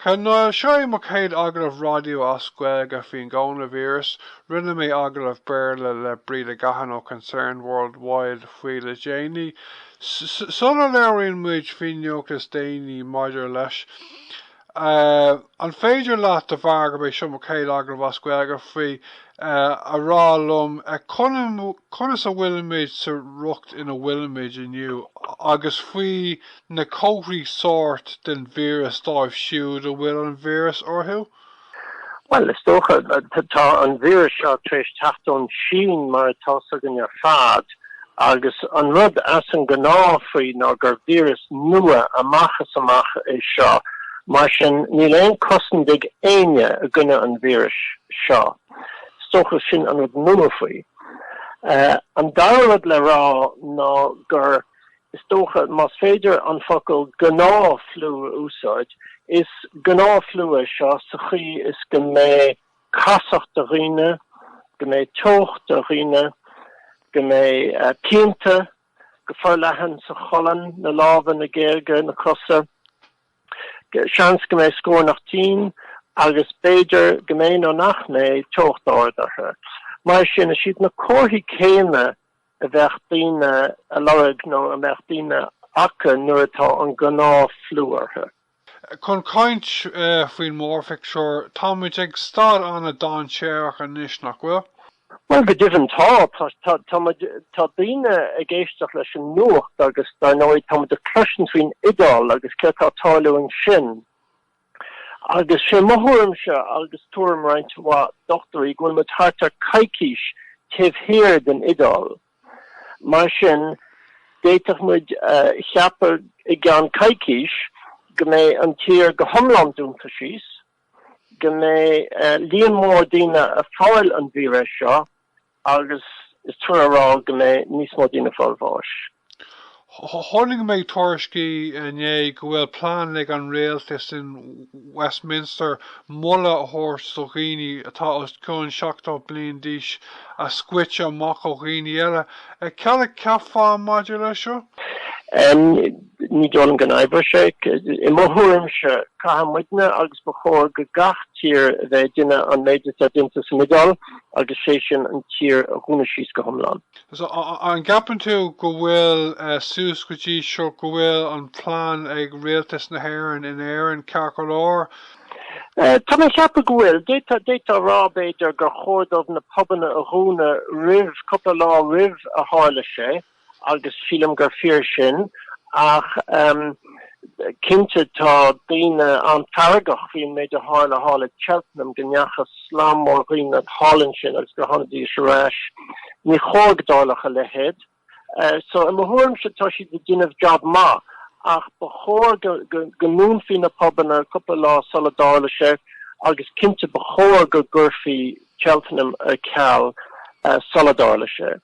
Ar ndóigh, seo é mo chéad agallamh raidió as Gaeilge faoin gcónavíreas, rinne mé agallamh Béarla le Breda Gahan ó Concern Worldwide faoi le déanaí, sula labhraíonn muid faoin nuacht is déanaí maidir leis. An féidir leat, de bharr gurb é seo mo chéad agallamh as Gaeilge faoi, a rá liom conas a bhfuilimid sa riocht ina bhfuilimid inniu, agus faoi na comharthaí sóirt den víreas dóibh siúd a bhfuil an víreas orthu? Bhuel, is dócha, tá an víreas seo tar éis teacht ón tSín, mar atá a fhios againn ar fad, agus an rud as an ngnáth faoi ná gur víreas nua amach is amach é seo, mar sin níl aon chosaint ag éinne i gcoinne an víris seo. Is dócha sin an rud nua faoi. An dara rud le rá ná gur. Is dócha, más féidir an focal 'gnáthfhliú' a úsáid, is gnáthfhliú é seo sa chaoi is go mbeidh casacht ar dhaoine, go mbeidh teocht ar dhaoine, go mbeidh pianta go forleathan sa cholainn, na lámha, na géaga, na cosa. Seans go mbeidh scornach tinn agus b'fhéidir go mbeidh nó nach mbeidh teocht ard orthu. Mar sin, is iad na comharthaí céanna. a bheadh daoine a lorg nó a mbeadh daoine acu nuair atá an gnáthfhliú orthu. Chun caint faoin mórphictiúr, tá muid ag staid an-dainséarach anois, nach bhfuil? Bhuel, go deimhin tá. Tá muid, tá daoine ag éisteacht leis an nuacht agus, dar ndóigh, tá muid ag cloisint faoin Iodáil agus céard tá ag tarlú ansin. Agus sé mo thuairimse, agus tuairim roinnt mhaith dochtúirí, go bhfuil muid thart ar coicís taobh thiar den Iodáil. Mar sin, d'fhéadfadh muid a cheapadh i gceann coicís go mbeidh an tír go hiomlán dúnta síos, go mbeidh líon mór daoine ag fáil an víreas seo, Agus is trua a rá go mbeidh níos mó daoine ag fáil bháis. Tháinig méid tuairiscí inné go bhfuil plean ag an rialtas in Westminster moladh a thabhairt do dhaoine atá os cionn 70 bliain d'aois a scoite amach ó dhaoine eile. Cad a cheapfá maidir leis seo? Ní dóigh liom go n-oibreoidh sé. I mo thuairimse, caithfidh muidne, agus ba chóir go gach tír a bheith ag déanamh an méid atá déanta san Iodáil, agus sé sin an tír a dhúnadh síos go hiomlán. So, an gceapann tú go bhfuil suas go dtí seo, go bhfuil an plean ag Rialtas na hÉireann in Éirinn ceart go leor? Tá mé ag ceapadh go bhfuil. D'fhéadfá a rá, b'fhéidir, gur chóir dóibh na pubanna a dhúnadh roimh, cúpla lá roimh a tharla sé. agus sílim gur fíor sin, ach cinnte tá daoine an-fheargach faoin méid a tharla thall i Cheltenham, go ndeachaigh slám mór daoine thall ansin agus gur tháinigdís ar ais. Ní chóir go dtarlódh a leithéid. So i mo thuairimse tá siad ag déanamh jab maith, ach ba chóir go ndúnfaí na pubanna cúpla lá sula dtarla sé agus cinnte ba chóir go gcuirfí Cheltenham ar ceal sula dtarla sé.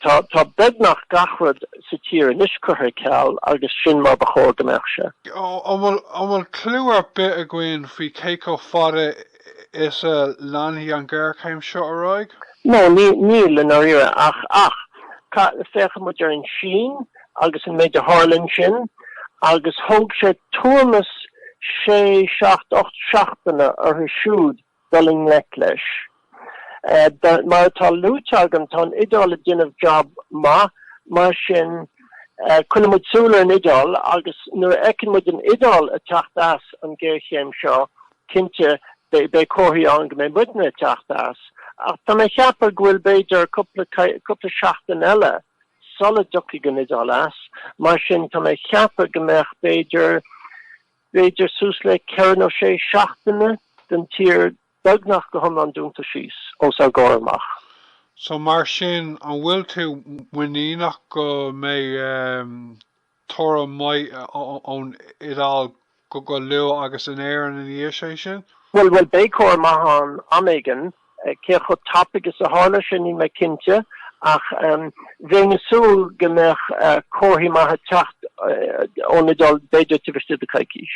Tá, tá beagnach gach rud sa tír anois curtha ar ceal agus sin mar ba chóir go mbeadh sé. An bhfuil, an bhfuil cliú ar bith againn faoi cé chomh fada is a leanfaidh an ghéarchéim seo ar aghaidh? Nó ní, níl i ndáiríre, ach, ach ca, féachann muid ar an tSín agus an méid a tharla ansin, agus thóg sé tuairim is sé, seacht, ocht seachtaine orthu siúd dul i ngleic leis. Mar atá luaite agam, tá an Iodáil ag déanamh jab maith, mar sin coinneoidh muid súil ar an Iodáil agus nuair a fheiceann muid an Iodáil ag teacht as an ngéarchéim seo, cinnte, beidh comharthaí ann go mbeidh muidne ag teacht as. Ach tá mé ag ceapadh go bhfuil, b'fhéidir, cúpla seachtain eile sula dtiocfaidh an Iodáil as, mar sin tá mé ag ceapadh go mbeadh, b'fhéidir, b'fhéidir suas le ceithre nó sé seachtaine den tír beagnach go hiomlán dúnta síos os ár gcomhair amach. So mar sin, an bhfuil tú muiníneach go mbeidh toradh maith ón Iodáil go luath agus in Éirinn ina dhiaidh sé sin? Bhuel, beidh toradh maith ann am éigin. Cé chomh tapaidh is a tharlós sin, níl mé cinnte, ach bheinn ag súil go mbeadh comharthaí maithe ag teacht ón Iodáil b'fhéidir tar éis deireadh coicís.